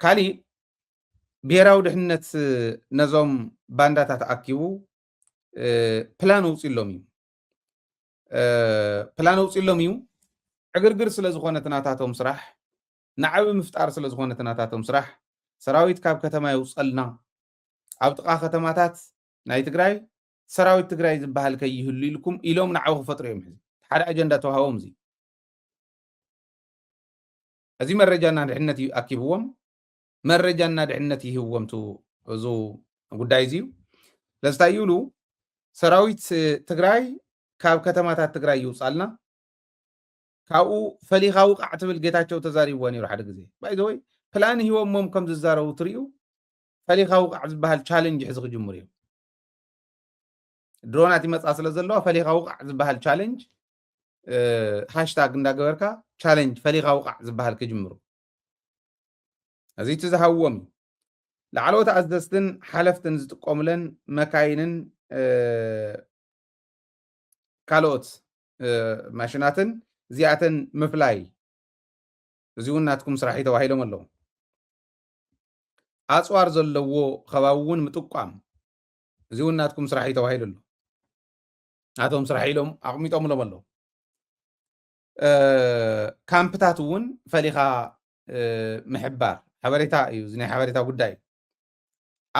ካሊእ ብሄራዊ ድሕንነት ነዞም ባንዳታት ኣኪቡ ፕላን ኣውፅሎም እዩ ፕላን ኣውፅሎም እዩ ዕግርግር ስለ ዝኾነ ትናታቶም ስራሕ ንዓቢ ምፍጣር ስለ ዝኾነ ትናታቶም ስራሕ ሰራዊት ካብ ከተማ የውፀልና ኣብ ጥቓ ከተማታት ናይ ትግራይ ሰራዊት ትግራይ ዝበሃል ከይህሉ ኢልኩም ኢሎም ንዓቢ ክፈጥሩ እዮም ሕዚ ሓደ ኣጀንዳ ተዋሃቦም እዚ እዚ መረጃና ድሕነት እዩ ኣኪብዎም መረጃና ድሕነት ይህብዎም ቱ እዙ ጉዳይ እዚ እዩ ለስታይ ይብሉ ሰራዊት ትግራይ ካብ ከተማታት ትግራይ ይውፃልና ካብኡ ፈሊኻ ውቃዕ ትብል ጌታቸው ተዛሪብዎ ነይሩ ሓደ ግዜ ባይዘወይ ፕላን ሂቦሞም ከም ዝዛረቡ ትርዩ ፈሊኻ ውቃዕ ዝበሃል ቻለንጅ ሕዚ ክጅምሩ እዮም ድሮናት ይመፃ ስለ ዘለዋ ፈሊኻ ውቃዕ ዝበሃል ቻለንጅ ሃሽታግ እንዳገበርካ ቻለንጅ ፈሊኻ ውቓዕ ዝበሃል ክጅምሩ እዚ እቲ ዝሃብዎም እዩ ላዕለዎት ኣዘዝትን ሓለፍትን ዝጥቀሙለን መካይንን ካልኦት ማሽናትን እዚኣተን ምፍላይ እዚ እውን ናትኩም ስራሕ እዩ ተባሂሎም ኣለዉ ኣፅዋር ዘለዎ ከባቢ እውን ምጥቋም እዚ እውን ናትኩም ስራሕ እዩ ተባሂሉ ኣሎ ናቶም ስራሕ ኢሎም ኣቕሚጦምሎም ኣለዉ ካምፕታት እውን ፈሊኻ ምሕባር ሓበሬታ እዩ እዚ ናይ ሓበሬታ ጉዳይ እዩ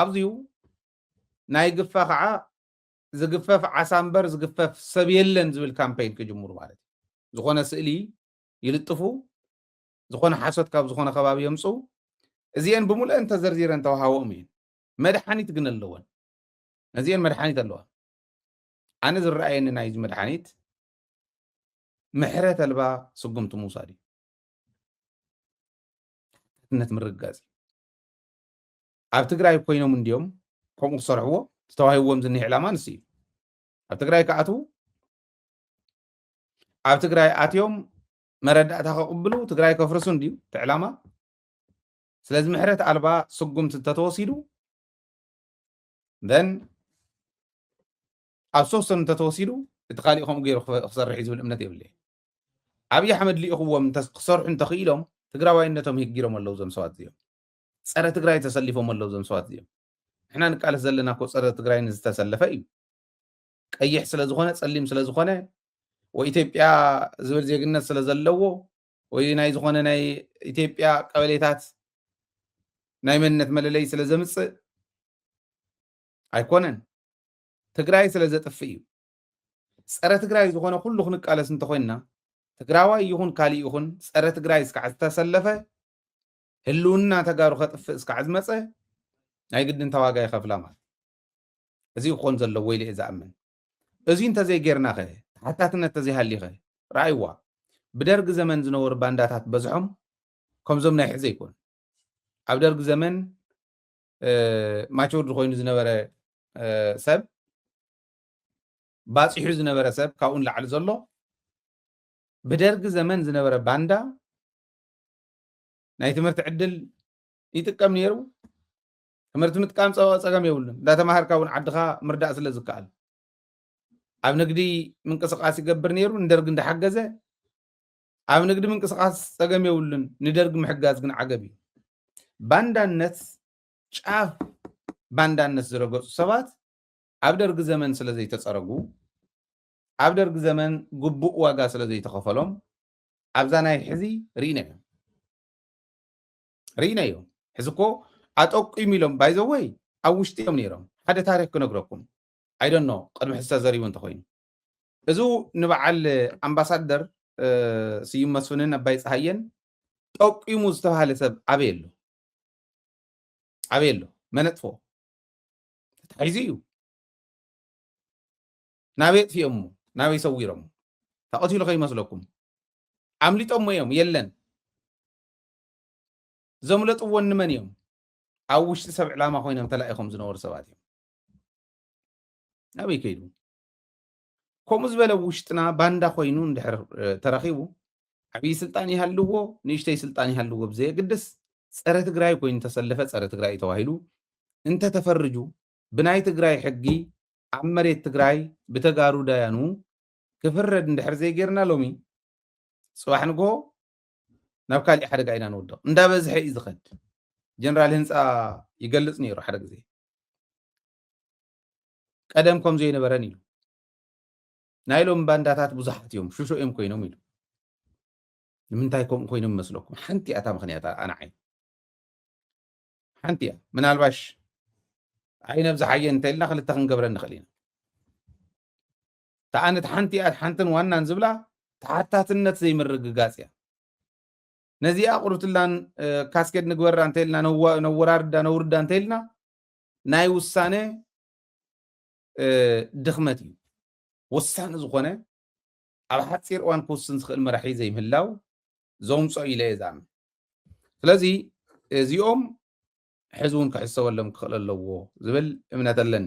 ኣብዚዩ ናይ ግፋ ከዓ ዝግፈፍ ዓሳ እምበር ዝግፈፍ ሰብ የለን ዝብል ካምፔይን ክጅምሩ ማለት እዩ ዝኾነ ስእሊ ይልጥፉ ዝኾነ ሓሶት ካብ ዝኾነ ከባቢ የምፁ እዚአን ብምሉአን ተዘርዚረን ተዋሃቦም እየን መድሓኒት ግን ኣለወን እዚአን መድሓኒት ኣለዋ ኣነ ዝረኣየኒ ናይዚ መድሓኒት ምሕረት ኣልባ ስጉምቲ ምውሳድ እዩ ነት ምርግጋፅ እዩ ኣብ ትግራይ ኮይኖም እንዲዮም ከምኡ ክሰርሕዎ ዝተዋሂብዎም ዝኒህ ዕላማ ንስ እዩ ኣብ ትግራይ ክኣትዉ ኣብ ትግራይ ኣትዮም መረዳእታ ከቕብሉ ትግራይ ከፍርሱ እንድዩ እቲ ዕላማ ስለዚ ምሕረት ኣልባ ስጉምቲ እንተተወሲዱ ን ኣብ ሶስቶም እንተተወሲዱ እቲ ካሊእ ከምኡ ገይሩ ክሰርሕ እዩ ዝብል እምነት የብለይ ኣብዪ ኣሕመድ ልኢኽዎም ክሰርሑ እንተኽኢሎም ትግራዋይነቶም ህጊሮም ኣለዉ ዞም ሰባት እዚኦም ፀረ ትግራይ ተሰሊፎም ኣለዉ ዞም ሰባት እዚኦም ንሕና ንቃለስ ዘለና ኮ ፀረ ትግራይ ንዝተሰለፈ እዩ ቀይሕ ስለዝኾነ ፀሊም ስለዝኾነ ወይ ኢትዮጵያ ዝብል ዜግነት ስለዘለዎ ወይ ናይ ዝኾነ ናይ ኢትዮጵያ ቀበሌታት ናይ መንነት መለለይ ስለ ዘምፅእ ኣይኮነን ትግራይ ስለ ዘጥፍእ እዩ ፀረ ትግራይ ዝኾነ ኩሉ ክንቃለስ እንተኮይንና ትግራዋይ ይኹን ካሊእ ይኹን ፀረ ትግራይ እስካዕ ዝተሰለፈ ህልውና ተጋሩ ከጥፍእ እስካዕ ዝመፀ ናይ ግድን ተዋጋ ይኸፍላ ማለት እዚ ክኾን ዘለዎ ኢለ እየ ዝኣምን እዙይ እንተዘይጌርናኸ? ተሓታትነት ተዘይሃልዩኸ? ርኣይዋ፣ ብደርግ ዘመን ዝነበሩ ባንዳታት በዝሖም ከምዞም ናይ ሕዚ ኣይኮኑን። ኣብ ደርግ ዘመን ማቹርድ ኮይኑ ዝነበረ ሰብ ባፂሑ ዝነበረ ሰብ ካብኡ ንላዕሊ ዘሎ ብደርጊ ዘመን ዝነበረ ባንዳ ናይ ትምህርቲ ዕድል ይጥቀም ነይሩ ትምህርቲ ምጥቃም ጸ- ጸገም የብሉን እንዳተማሃርካ እውን ዓድኻ ምርዳእ ስለ ዝከኣል ኣብ ንግዲ ምንቅስቃስ ይገብር ነይሩ ንደርጊ እንዳሓገዘ ኣብ ንግዲ ምንቅስቃስ ጸገም የብሉን ንደርጊ ምሕጋዝ ግን ዓገብ እዩ ባንዳነት ጫፍ ባንዳነት ዝረገፁ ሰባት ኣብ ደርጊ ዘመን ስለ ዘይተፀረጉ ኣብ ደርጊ ዘመን ግቡእ ዋጋ ስለ ዘይተኸፈሎም ኣብዛ ናይ ሕዚ ርኢና ኢና ርኢናዮ ሕዚ እኮ ኣጠቂሙ ኢሎም ባይዘወይ ኣብ ውሽጢ እዮም ነይሮም ሓደ ታሪክ ክነግረኩም ኣይደኖ ቅድሚ ሕዚ ተዘሪቡ እንተኮይኑ እዚ ንበዓል ኣምባሳደር ስዩም መስፍንን ኣባይ ፀሃየን ጠቂሙ ዝተባሃለ ሰብ ኣበይ ኣሎ ኣበይ ኣሎ መነጥፎ ተታሒዙ እዩ ናበይ ኣጥፊኦሞ ናበይ ሰዊሮሞ ተቐቲሉ ከይመስለኩም ኣምሊጦሞ እዮም የለን ዘምለጥዎን ንመን እዮም ኣብ ውሽጢ ሰብ ዕላማ ኮይኖም ተላኢኾም ዝነበሩ ሰባት እዮም ናበይ ከይዱ ከምኡ ዝበለ ውሽጥና ባንዳ ኮይኑ እንድሕር ተረኺቡ ዓብዪ ስልጣን ይሃልዎ ንእሽተይ ስልጣን ይሃልዎ ብዘየግድስ ፀረ ትግራይ ኮይኑ ተሰለፈ ፀረ ትግራይ እዩ ተባሂሉ እንተተፈርጁ ብናይ ትግራይ ሕጊ ኣብ መሬት ትግራይ ብተጋሩ ዳያኑ ክፍረድ እንድሕር ዘይጌርና ሎሚ ፅባሕ ንግሆ ናብ ካሊእ ሓደጋ ኢና ንውድቕ እንዳበዝሐ እዩ ዝኸድ ጀነራል ህንፃ ይገልፅ ነይሩ ሓደ ግዜ ቀደም ከም ዘይነበረን ኢሉ ናይ ሎም ባንዳታት ብዙሓት እዮም ሽሾ እዮም ኮይኖም ኢሉ ንምንታይ ከምኡ ኮይኖም መስለኩም ሓንቲ እያ እታ ምክንያት ኣንዓይ ሓንቲ እያ ምናልባሽ ዓይነብዝሓየ እንተኢልና ክልተ ክንገብረ ንኽእል ኢና ከኣ ነቲ ሓንቲኣ ሓንትን ዋናን ዝብላ ተሓታትነት ዘይምርግጋጽ እያ። ነዚኣ ቁርብትላን ካስኬድ ንግበራ እንተኢልና ነወራርዳ ነውርዳ እንተኢልና ናይ ውሳነ ድኽመት እዩ። ወሳኒ ዝኾነ ኣብ ሓፂር እዋን ክውስን ዝኽእል መራሒ ዘይምህላው ዘውምፆ ኢለ እየ ዝኣምን ስለዚ እዚኦም ሕዚ እውን ክሕሰበሎም ክኽእል ኣለዎ ዝብል እምነት ኣለኒ